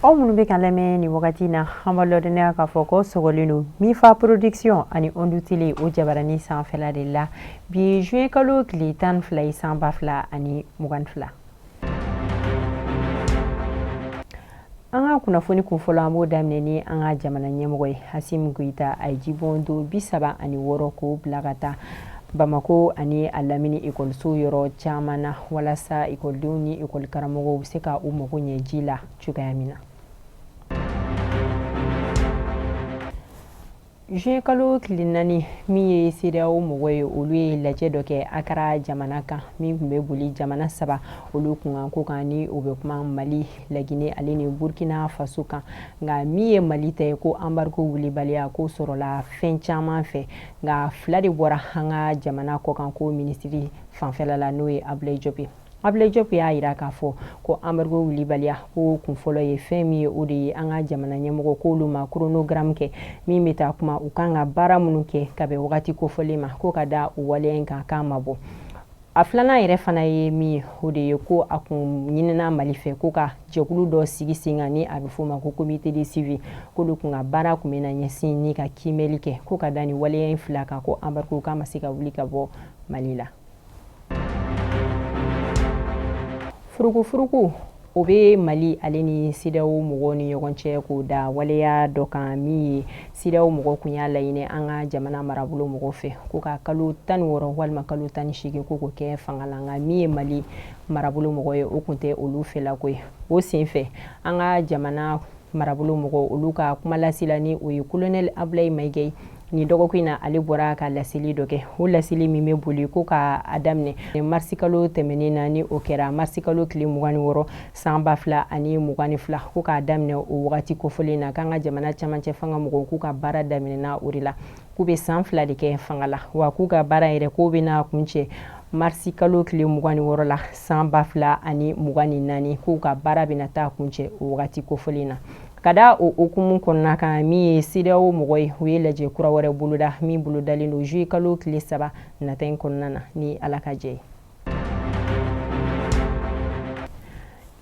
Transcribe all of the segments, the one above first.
aw minnu bɛ k'an lamɛn nin wagati na an b'a lɔdɔnniya k'a fɔ ko sɔgɔlen don mifa production ani ondu tele o jabarani sanfɛla de la bi juin kalo tile tan ni fila ye san ba fila ani mugan ni fila an ka kunnafoni kun fɔlɔ an b'o daminɛ ni an ka jamana ɲɛmɔgɔ ye asimi goyita a ye jibondon bi saba ani wɔɔrɔ k'o bila ka taa bamako ani a lamini ekɔliso yɔrɔ caman na walasa ekɔlidenw ni ekɔlikaramɔgɔw bɛ se ka u mago ɲɛ ji la cogoya min na Juin kalo tile naani min ye sedeyawo mɔgɔ ye olu ye lajɛ dɔ kɛ akara jamana kan min tun bɛ boli jamana saba olu kunkanko kan ni o bɛ kuma mali laginɛ ale ni burukina faso kan nka min ye mali ta ye ko embargo wulibaliya ko sɔrɔla fɛn caman fɛ nka fila de bɔra an ka jamana kɔkanko minisiri fanfɛla la n'o ye ablaye diop Ablaye Diop y'a jira k'a fɔ ko embargo wulibaliya ko kun fɔlɔ ye fɛn min ye o de ye an ka jamana ɲɛmɔgɔ k'olu ma chronogramme kɛ min bɛ taa kuma u kan ka baara minnu kɛ ka bɛn wagati kofɔlen ma ko ka da o waleya in kan k'a ma bɔ a filanan yɛrɛ fana ye min ye o de ye ko a kun ɲinina Mali fɛ ko ka jɛkulu dɔ sigi sen kan ni a bɛ f'o ma ko comité de suivi k'olu kun ka baara kun bɛna ɲɛsin ni ka kiimɛli kɛ ko ka da nin waleya in fila kan ko embargo k'a ma se ka wuli ka bɔ Mali la. furukufuruku o bɛ mali ale ni sedeyawo mɔgɔw ni ɲɔgɔn cɛ k'o da waleya dɔ kan min ye sedeyawo mɔgɔ kun y'a laɲini an ka jamana marabolo mɔgɔ fɛ ko ka kalo tan ni wɔɔrɔ walima kalo tan ni seegin ko k'o kɛ fanga la nka min ye mali marabolo mɔgɔ ye o kun tɛ olu fɛlako ye o senfɛ an ka jamana marabolo mɔgɔ olu ka kuma lasila ni o ye kolonɛli abulayi mayiga ye nin dɔgɔkun in na ale bɔra ka laseli dɔ kɛ o laseli min bɛ boli ko ka a daminɛ marisikalo tɛmɛnen na ni o kɛra marisikalo tile mugan ni wɔɔrɔ san ba fila ani mugan ni fila ko k'a daminɛ o wagati kofɔlen na k'an ka jamana camancɛ fanga mɔgɔw k'u ka baara daminɛna o de la k'u bɛ san fila de kɛ fanga la wa k'u ka baara yɛrɛ k'o bɛna kuncɛ marisi kalo tile mugan ni wɔɔrɔ la san ba fila ani mugan ni naani k'u ka baara bɛna taa kuncɛ o wagati kofɔlen na ka da o hukumu kɔnɔna kan min ye sedeyawo mɔgɔ ye u ye lajɛ kura wɛrɛ boloda min bolodalen don zuye kalo tile saba nata in kɔnɔna na ni ala ka jɛ ye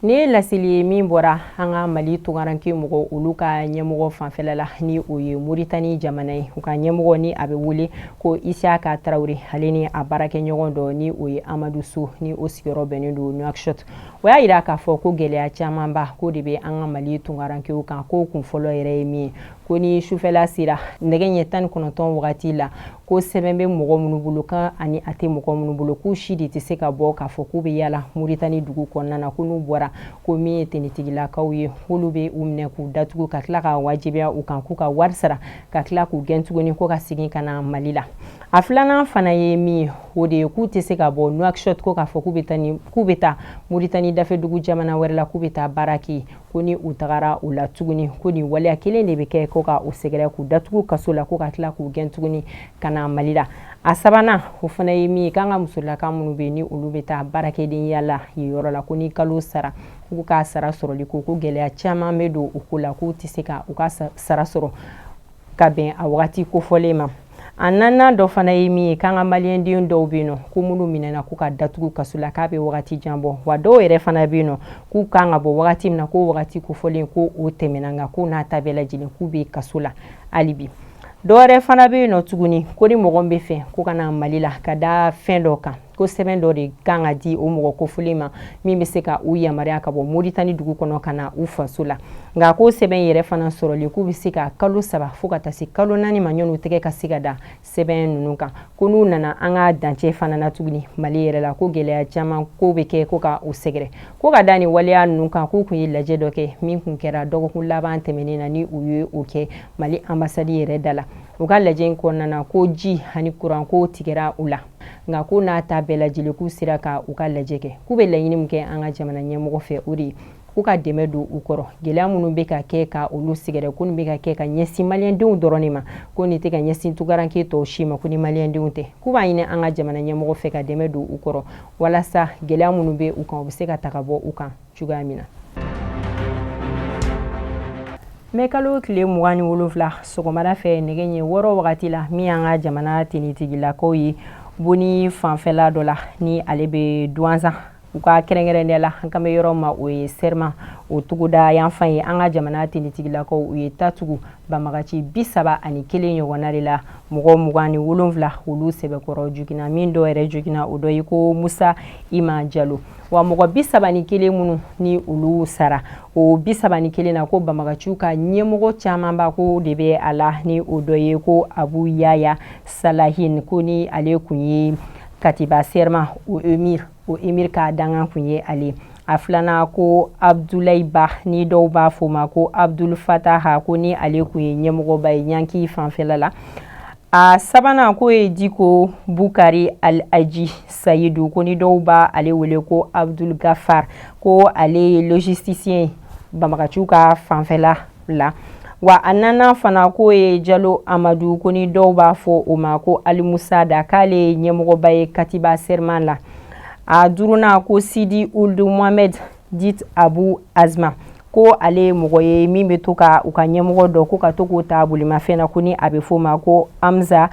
Nin ye laseli ye min bɔra an ka mali tunkaranke mɔgɔ olu ka ɲɛmɔgɔ fanfɛla la ni o ye moritani jamana ye u ka ɲɛmɔgɔ ni a bɛ wele ko isiyaka tarawele ale ni a baarakɛɲɔgɔn dɔ ni o ye amadu so ni o sigiyɔrɔ bɛnnen don nuakshot o y'a jira k'a fɔ ko gɛlɛya camanba ko de bɛ an ka mali tunkarankew kan ko kun fɔlɔ yɛrɛ ye min ye ko ni sufɛla sera nɛgɛ ɲɛ tan ni kɔnɔntɔn wagati la ko sɛbɛn bɛ mɔgɔ minnu bolo kan ani a tɛ mɔgɔ minnu bolo k'u si de tɛ se ka bɔ k'a fɔ k'u bɛ yaala muritani dugu kɔnɔna na ko n'u bɔra ko min ye tenitigilakaw ye k'olu bɛ u minɛ k'u datugu ka tila ka wajibiya u kan k'u ka wari sara ka tila k'u gɛn tuguni ko ka segin ka na mali la a filanan fana ye min ye o de ye k'u tɛ se ka bɔ nuakshot ko k'a fɔ k'u bɛ taa muritani dafɛdugu jamana wɛrɛ la k'u bɛ taa baara kɛ ko ni u tagara o la tuguni ko nin waleya kelen de bɛ kɛ ko ka u sɛgɛrɛ k'u datugu kaso la ko ka tila k'u gɛn tuguni ka na mali la a sabanan o fana ye min ye k'an ka musolaka minnu bɛ ni olu bɛ taa baarakɛdenya la yen yɔrɔ la ko ni kalo sara k'u ka sara sɔrɔli ko ko gɛlɛya caman bɛ don o ko la k'u tɛ se ka u ka sara sɔrɔ ka bɛn a wagati kofɔlen ma a naaninan dɔ fana ye min ye k'an ka maliyɛnden dɔw bɛ yen nɔ ko minnu minɛna ko ka datugu kaso la k'a bɛ wagati jan bɔ wa dɔw yɛrɛ fana bɛ yen nɔ k'u kan ka bɔ wagati min na k'o wagati kofɔlen ko o tɛmɛna nka k'o n'a ta bɛɛ lajɛlen k'u bɛ kaso la hali bi dɔw yɛrɛ fana bɛ yen nɔ tuguni ko ni mɔgɔ bɛ fɛ ko ka na mali la ka da fɛn dɔ kan ko sɛbɛn dɔ de kan ka di o mɔgɔ kofɔlen ma min bɛ se ka u yamaruya ka bɔ moritani dugu kɔnɔ ka na u faso la nka k'o sɛbɛn yɛrɛ fana sɔrɔli k'u bɛ se ka kalo saba fo ka taa se kalo naani ma ɲɔgɔn u tɛgɛ ka se ka da sɛbɛn ninnu kan ko n'u nana an ka dancɛ fana na tuguni mali yɛrɛ la ko gɛlɛya caman ko bɛ kɛ ko ka u sɛgɛrɛ ko ka da nin waleya ninnu kan k'u tun ye lajɛ dɔ kɛ min tun kɛra dɔgɔkun laban tɛmɛnen na ni u ye o kɛ mali anbasadi yɛrɛ da la u ka lajɛ in kɔnɔna na ko ji ani kuran ko tigɛra u la nka k'o n'a ta bɛɛ lajɛlen k'u sera ka u ka lajɛ kɛ k'u bɛ laɲini min kɛ an ka jamana ɲɛmɔgɔ fɛ o de ye k'u ka dɛmɛ don u kɔrɔ gɛlɛya minnu bɛ ka kɛ ka olu sɛgɛrɛ ko nin bɛ ka kɛ ka ɲɛsin maliyɛndenw dɔrɔn de ma ko nin tɛ ka ɲɛsin tunkaranke tɔw si ma ko ni maliyɛndenw tɛ k'u b'a ɲini an ka jamana ɲɛmɔgɔ fɛ ka dɛmɛ don u kɔrɔ walasa gɛlɛya minnu bɛ u kan o bɛ se ka ta ka bɔ u kan cogoya min na mɛkalo tile mugan ni wolonfila sɔgɔmada fɛ nɛgɛ ɲɛ wɔɔrɔ wagati la min y'an ka jamana tenitigilakaw ye boni fanfɛla dɔ la ni ale bɛ duwanzan u ka kɛrɛnkɛrɛnnenya la an kan bɛ yɔrɔ ma o ye sɛrima o togoda yanfan ye an ka jamana tenitigilakaw u ye ta tugu banbagaci bi saba ani kelen ɲɔgɔnna de la mɔgɔ mugan ni wolonfila olu sɛbɛkɔrɔ jogina min dɔ yɛrɛ jogina o dɔ ye ko musa ima jalo wa mɔgɔ bi saba ni kelen minnu ni olu sara o bi saba ni kelen na ko banbagaciw ka ɲɛmɔgɔ camanba ko de bɛ a la ni o dɔ ye ko abu yaya salahin ko ni ale kun ye katiba serma o emir o emir ka dangan kun ye ale a filanan ko abdulayi ba ni dɔw b'a fɔ ma ko abdul fataha ko ni ale kun ye ɲɛmɔgɔba ye ɲanki fanfɛla la A sabanan k'o ye Diko Bukari Al-Aji Sayidu ko ni dɔw b'a ale wele ko Abdul Gafar ko ale ye logisticien ye banbagaciw ka fanfɛla la wa a nanan fana k'o ye Jalo Amadu ko ni dɔw b'a fɔ o ma ko Almusada k'ale ye ɲɛmɔgɔba ye Katiba Serma la a duurunan ko Sidi Ould Mohamed dit abu azma ko ale ye mɔgɔ ye min bɛ to ka u ka ɲɛmɔgɔ dɔ ko ka to k'o ta bolimafɛn na ko ni a bɛ f'o ma ko amza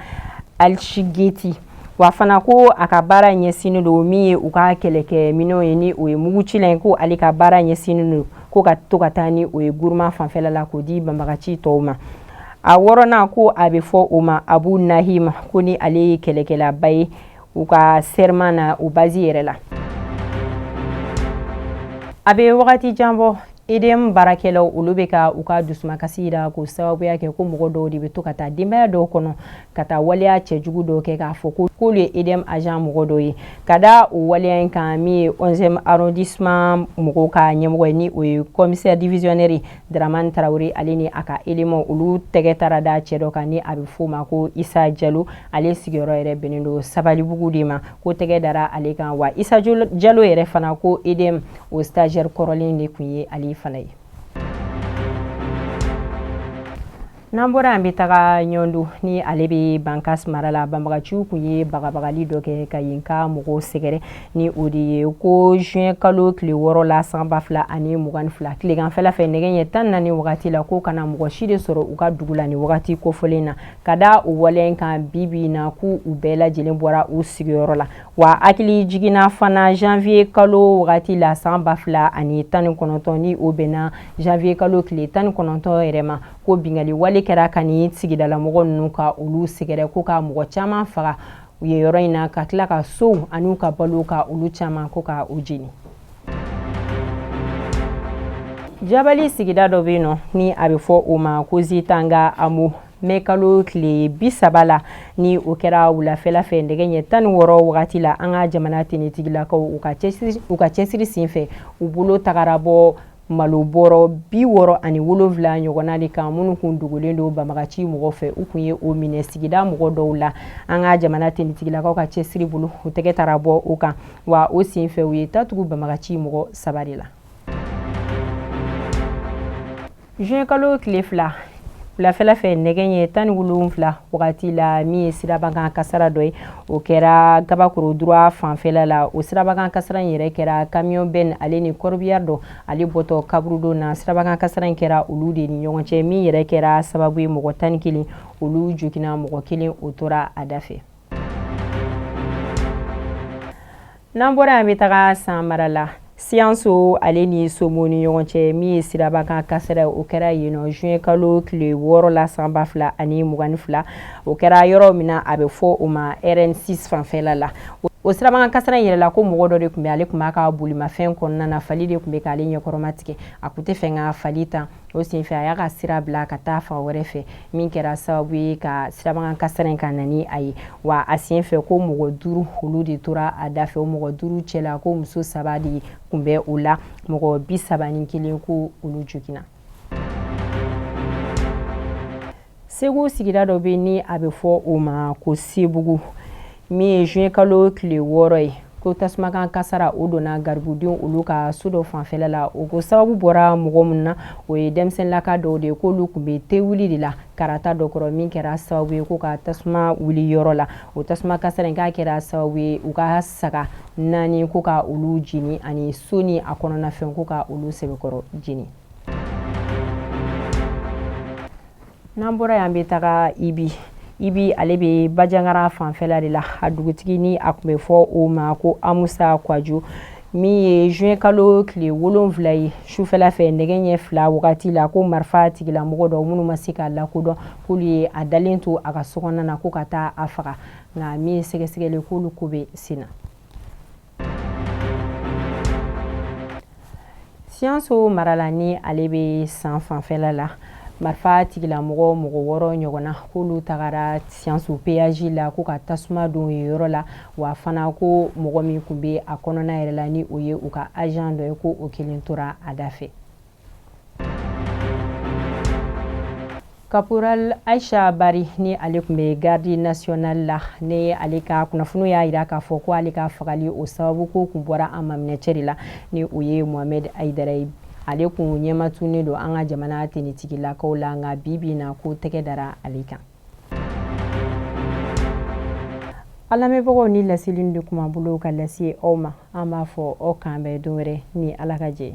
alshigeti wa fana ko a ka baara ɲɛsinnen don min ye u ka kɛlɛkɛminɛnw ye ni o ye mugucilan ye ko ale ka baara ɲɛsinnen don ko ka to ka taa ni o ye guruma fanfɛla la k'o di banbagaci tɔw ma a wɔɔrɔnan ko a bɛ fɔ o ma abu nahim ko ni ale ye kɛlɛkɛlaba ye u ka serma na u bazi yɛrɛ la a bɛ wagati jan bɔ edm baarakɛlaw olu bɛ ka u ka dusumakasi jira k'o sababuya kɛ ko mɔgɔ dɔw de bɛ to ka taa denbaya dɔw kɔnɔ ka taa waleya cɛjugu dɔw kɛ k'a fɔ ko k'olu ye edm agent mɔgɔ dɔw ye ka da o waleya in kan min ye 11e arrondissement mɔgɔw ka ɲɛmɔgɔ ye ni o ye commissaire divisionnaire Dramane Traoré ale ni a ka éléments olu tɛgɛ taara da cɛ dɔ kan ni a bɛ f'o ma ko Issa Diallo ale sigiyɔrɔ yɛrɛ bɛnnen don Sabalibugu de ma ko tɛgɛ dara ale kan wa Issa Diallo yɛrɛ fana ko EDM o stagiaire kɔrɔlen de kun ye ale fana ye. n'an bɔra an bɛ taga ɲɔndu ni ale bɛ bankas mara la banbagaciw kun ye bagabagali dɔ kɛ ka yen ka mɔgɔw sɛgɛrɛ ni o de ye ko zuwɛn kalo tile wɔɔrɔ la san ba fila ani mugan ni fila tileganfɛla fɛ nɛgɛ ɲɛ tan ni naani wagati la ko kana mɔgɔ si de sɔrɔ u ka dugu la ni wagati kofɔlen na ka da o waleya in kan bibi na k'u bɛɛ lajɛlen bɔra u sigiyɔrɔ la wa hakilijigin na fana zanwiye kalo wagati la san ba fila ani tan ni kɔnɔntɔn ni o bɛnna zanwiye kalo tile tan ni kɔnɔntɔn yɛrɛ ma ko bingali wale kɛra ka ni sigidalamɔgɔ ninnu ka olu sɛgɛrɛ ko ka mɔgɔ caman faga u ye yɔrɔ in na ka tila ka sow an'u ka balo ka olu caman ko ka u jeni jabali sigida dɔ bɛ yen nɔ ni a bɛ fɔ o ma ko zitanga amu mɛ kalo tile bi saba la ni o kɛra wulafɛla fɛ nɛgɛ ɲɛ tan ni wɔɔrɔ wagati la an ka jamana tenitigilakaw u ka cɛsiri senfɛ u bolo tagara bɔ Malo bɔrɔ bi wɔɔrɔ ani wolonwula ɲɔgɔnna de kan minnu kun dogolen don banbagaci mɔgɔ fɛ u kun ye o minɛ sigida mɔgɔ dɔw la an ka jamana tenitigilakaw ka cɛsiri bolo u tɛgɛ taara bɔ o kan wa o sen fɛ u ye tatugu banbagaci mɔgɔ saba de la juin kalo tile fila wulafɛla fɛ nɛgɛ ɲɛ tan ni wolonwula wagati la min ye sirabakan kasara dɔ ye o kɛra gabakoro droit fanfɛla la o sirabakan kasara in yɛrɛ kɛra kamiyɔn bɛn ale ni corbillard dɔ ale bɔtɔ kaburudo na sirabakan kasara in kɛra olu de ni ɲɔgɔn cɛ min yɛrɛ kɛra sababu ye mɔgɔ tan ni kelen olu joginna mɔgɔ kelen o tora a da fɛ n'an bɔra yan bɛ taga san mara la siyanso ale ni somo ni ɲɔgɔn cɛ min ye sirabakan kasara o kɛra yen nɔ juin kalo tile wɔɔrɔ la san ba fila ani mugan fila o kɛra yɔrɔ min na a bɛ fɔ o ma rn6 fanfɛla la o sirabakan kasara in yɛrɛ la ko mɔgɔ dɔ de tun bɛ ale tun b'a ka bolimafɛn kɔnɔna na fali de tun bɛ k'ale ɲɛkɔrɔma tigɛ a tun tɛ fɛ ka fali tan o senfɛ a y'a ka sira bila ka taa fan wɛrɛ fɛ min kɛra sababu ye ka sirabakan kasara in ka na ni a ye wa a sen fɛ ko mɔgɔ duuru olu de tora a da fɛ o mɔgɔ duuru cɛla ko muso saba de kun bɛ o la mɔgɔ bi saba ni kelen ko olu joginna segu sigida dɔ bɛ ni a bɛ fɔ o ma ko sebugu min ye juin kalo tile wɔɔrɔ ye ko tasumakan kasara o donna garibudenw olu ka so dɔ fanfɛla la o ko sababu bɔra mɔgɔ min na o ye denmisɛnninlaka dɔw de ye k'olu kun bɛ te wuli de la karata dɔ kɔrɔ min kɛra sababu ye ko ka tasuma wuli yɔrɔ la o tasuma kasara in k'a kɛra sababu ye u ka saga naani ko ka olu jeni ani so ni a kɔnɔnafɛn ko ka olu sɛbɛkɔrɔ jeni n'an bɔra yan bɛ taga ibi ibi ale bɛ bajangara fanfɛla de la a dugutigi ni a kun bɛ fɔ o ma ko amusa kwajo min ye juin kalo tile wolonwula ye sufɛla fɛ nɛgɛ ɲɛ fila wagati la ko marifa tigilamɔgɔ dɔ minnu ma se ka lakodɔn k'olu ye a dalen to a ka sokɔnɔna na ko ka taa a faga nka min ye sɛgɛsɛgɛli k'olu ko bɛ sen na siyanso mara la ni ale bɛ san fanfɛla la marifa tigilamɔgɔ mɔgɔ wɔɔrɔ ɲɔgɔnna k'olu tagara siyanso peyaji la ko ka tasuma don yen yɔrɔ la wa fana ko mɔgɔ min tun bɛ a kɔnɔna yɛrɛ la ni o ye u ka ajan dɔ ye ko o kelen tora a da fɛ kaporal aisha bari ni ale tun bɛ garde nationale la ni ale ka kunnafoniw y'a jira k'a fɔ ko ale ka fagali o sababu ko kun bɔra a maminɛcɛ de la ni o ye mohamed aidara ye ale kun ɲɛmatunnen don an ka jamana tenitigilakaw la nka bi bi na ko tɛgɛ dara ale kan a lamɛnbagaw nin laseli de kun b'an bolo ka lase aw ma an b'a fɔ aw k'an bɛn don wɛrɛ ni ala ka jɛ